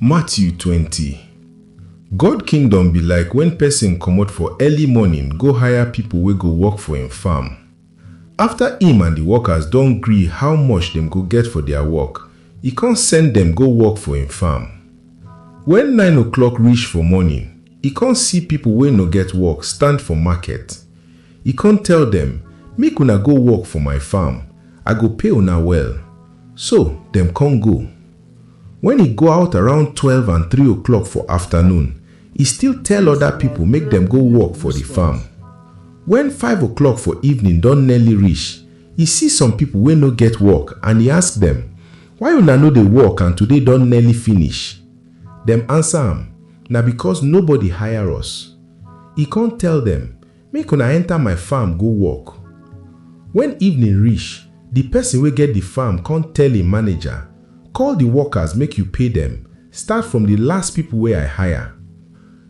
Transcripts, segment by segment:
Matthew twenty. God Kingdom be like wen pesin comot for early morning go hire pipo wey go work for im farm. Afta im and di workers don gree how much dem go get for dia work, e con send dem go work for im farm. Wen nine o'clock rish for morning, e con see pipo wey no get work stand for market. E con tell dem, Make una go work for my farm, I go pay una well. So, dem con go. Wen e go out around twelve and three o'clock for afternoon, e still tell oda pipo make dem go work for di farm. Wen five o'clock for evening don nearly reach, e see some pipo wey no get work and e ask dem, Why una no dey work and today don nearly finish? Dem ansa am, Na becos nobody hire us. E con tell dem, Make una enter my farm go work. When evening reach, the person wey get the farm come tell him manager, Call the workers make you pay them, start from the last people wey I hire.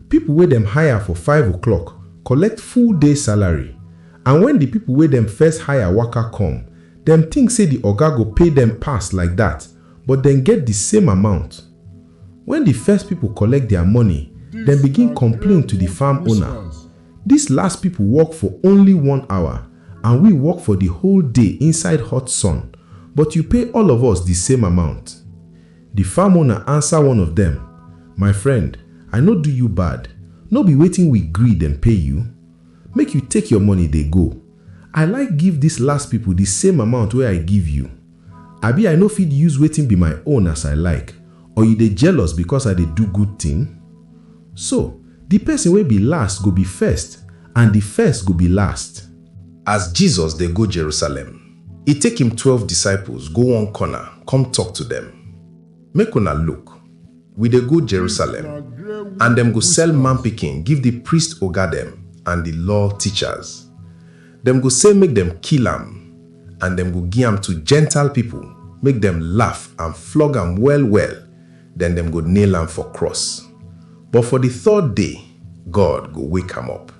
People wey dem hire for five o'clock collect full day salary and when the people wey dem first hire waka come, dem think say the oga go pay them pass like that but dem get the same amount. When the first people collect their money, dem begin complain to the farm owner, Dis last pipo work for only one hour and we work for di whole day inside hot sun, but you pay all of us di same amount. Di farm owner ansa one of dem, My friend, I no do you bad, no be wetin we gree dem pay you? Make you take your money dey go. I like give dis last pipo di same amount wey I give you. Abi I no fit use wetin be my own as I like or you dey jealous because I dey do good thing? So, di person wey be last go be first and di first go be last. As Jesus dey go Jerusalem, e take im twelve disciples go one corner come talk to dem, Make una look, we dey go Jerusalem, and dem go sell Man Pikin give di priest oga dem and di law teachers. Dem go say make dem kill am, And dem go gi am to Gentile pipo, make dem laff and flog am well-well, den dem go nail am for cross. But for di third day, God go wake am up.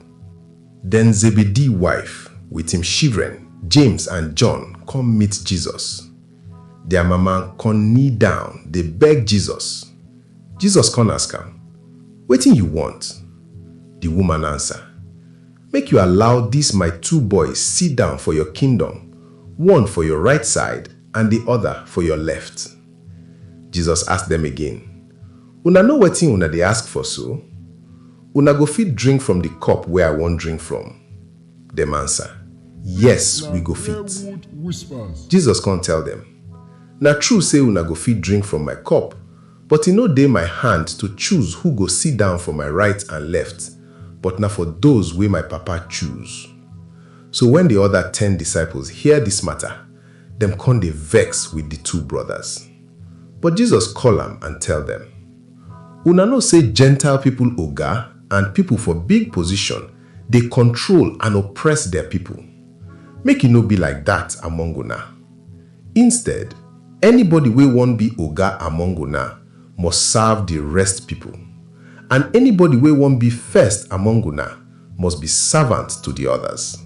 Den Zebedee wife with im shivren, James and John, come meet Jesus. Dia mama con knee down dey beg Jesus. Jesus con ask am, Wetin yu want? Di woman ansa. Make you allow dis my two boys sit down for your kingdom, one for your right side and di other for your left. Jesus ask dem again, Una know wetin una dey ask for so? Una go fit drink from di cup wey I wan drink from? Dem answer, Yes, we go fit. Jesus come tell dem, Na true sey una go fit drink from my cup, But e no dey my hand to choose who go sit down for my right and left, but na for those wey my Papa choose. So when the other ten disciples hear this matter, dem con dey vex with the two brothers. But Jesus call am and tell dem, Una know say Gentile people oga and people for big position dey control and oppress der people. Make e no be like that among una. Instead, anybody wey won be oga among una must serve the rest people, and anybody wey won be first among una must be servant to the others.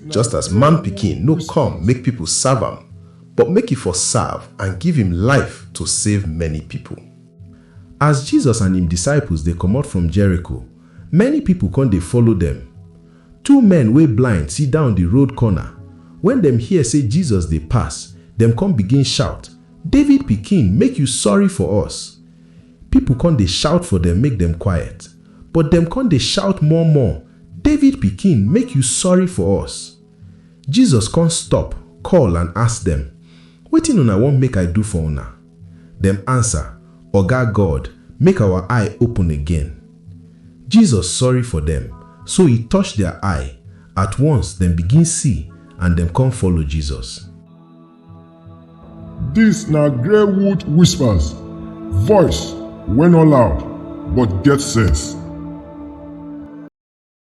Just as Man Pikin no come make people serve am, but make e for serve and give im life to save many people. As Jesus and im disciples dey comot from Jericho, many people con dey follow dem. Two men wey blind sidon di road corner. Wen dem hear sey Jesus dey pass, dem con begin shout, David Pikin, make you sorry for us! Pipo con dey shout for dem make dem quiet. But dem con dey shout more more, David Pikin, make you sorry for us! Jesus con stop, call and ask dem, Wetin una want make I do for una? Dem ansa, Oga God, make awa eye open again. Jesus sorry for dem, so E touch dia eye, at once dem begin si and dem kon follow Jesus. Dis na Greywood Whispers, voice wey no loud but get sense.